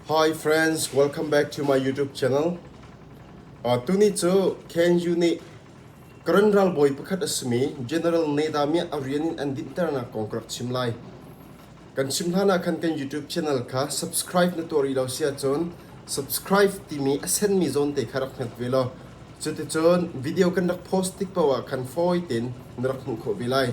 Hi friends, welcome back to my YouTube channel. Uh, tuni cu KNU nih Karen ralbawi pakhat a simi General Neda Mia a rian in an dinhternak kong ka rak chim lai. Kan chim hlanah khan kan YouTube channel kha subscribe na tuah rih lo si ahcun subscribe timi a senmi zawn te kha rak hmet ve law Cuticun video kan rak post tik paoh ah khan fawi tein na rak hmuh khawh ve lai.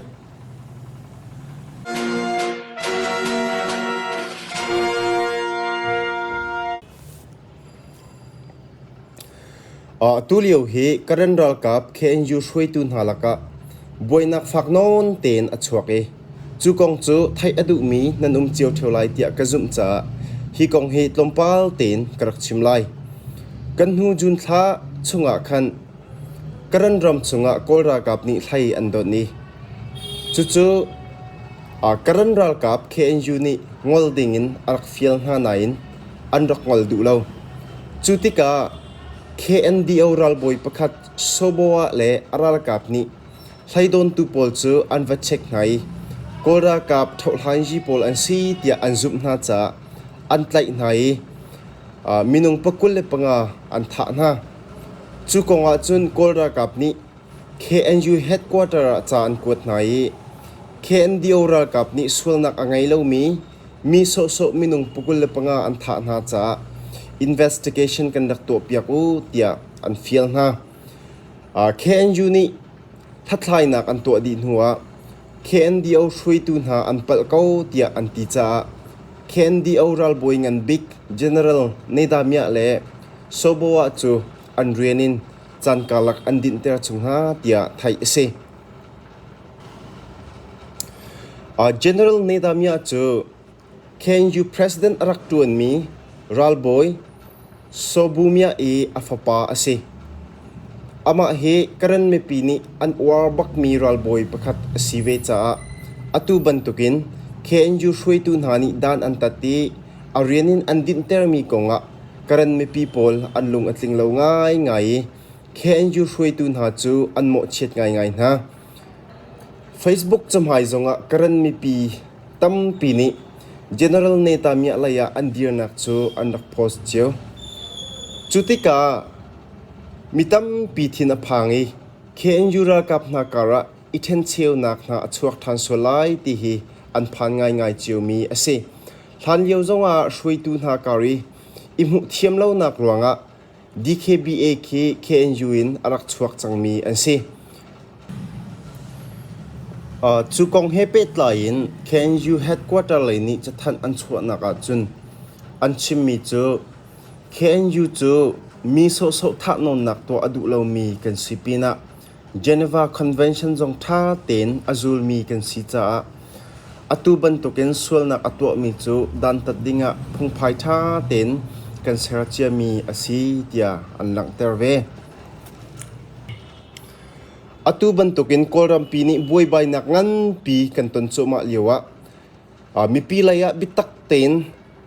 Tulio hi Karen ralkap KNU hruaitu hna lakah buainak fak nawn tein a chuak i Cu kong cu theih a duhmi nan um cio ṭheo lai tiah ka zumh caah hi kong hi tlawmpal tein ka rak chim lai. Kan hnu June thla chungah khan Karen ram chungah Kawl ralkap nih hlei an dawt i cucu Karen ralkap KNU nih ngol dingin a rak fial hna nain an rak ngol duh lo. Cu tikah KNDO ralbawi pakhat Soboah le a ralkap nih Hleidawntu pawl cu an va chek hna i Kawl ralkap thohlanzi pawl an si tiah an zumh hna caah an tlaih hna i minung pakul le panga an thah hna. Cu kongah cun Kawl ralkap nih KNU headquarter ah ca an kuat hna i KNDO ralkap nih sualnak a ngei lomi mi sawhsawh minung pakul le panga an thah hna caah investigation kan rak tuahpiak u tiah an fial hna. KNU nih hlathlainak an tuah dih hnuah KNDO hruaitu hna an palh ko tiah an ti caah KNDO ralbawi nganbik General Nedamyah le Soboah cu an rian in caan karlak an dinhter chung hna tiah theih a si. General Nedamyah cu Khenyu president a rak ṭuanmi ralbawi Sobumyah i a fapa a si. Amah hi Karen mipi nih an uar bakmi ralbawi pakhat a si ve caah atu bantukin Khenyu hruaitu hna nih dan an tat i a rian in an dinhtermi kongah Karen mipi pawl an lung a tling lo ngaingai i Khenyu hruaitu hna cu an mawhchiat ngaingai hna. Facebook cahmai zongah Karen mipi tampi nih General Netanyahu lei ah an dirnak cu an rak post cio. Cu tikah mi tampi thin a phang i KNU ralkap hna karah i ṭhencheunak hna a chuak ṭhan sual lai ti hi an phan ngaingai ciomi a si. Hlanlio zongah hruaitu hna kar i i hmuh thiam lonak ruangah DKBA khi KNU in a rak chuak cangmi an si. Cu kong he pehtlai in KNU headquarter lei nih cathanh an chuahnak ahcun an chimmi cu KNU cu mi sawhsawh thahnawnnak tuah a duh lomi kan si pinah Geneva Convention zong ṭha tein a zulmi kan si caah atu bantukin sualnak a tuahmi cu dantat dingah phungphai ṭha tein kan ser ciami a si tiah an langhter ve. Atu bantukin Kawlrampi nih buaibainak nganpi kan ton cuahmah lioah Mipi lei ah biatak tein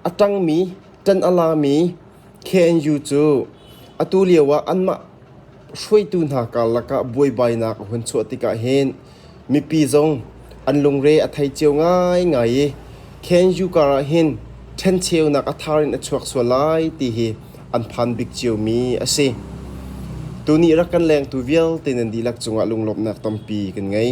a ṭangmi, ṭan a lami KNU cu atu lio ah anmah hruaitu hna karlak ah buaibainak a hun chuah tikah hin mipi zong an lungre a thei cio ngaingai i KNU kar ah hin ṭhencheunak a thar in a chuak sual lai ti hi an phan bik ciomi a si. Tuni rak kan lengtu vialte nan dihlak cungah lunglawmhnak tampi kan ngei.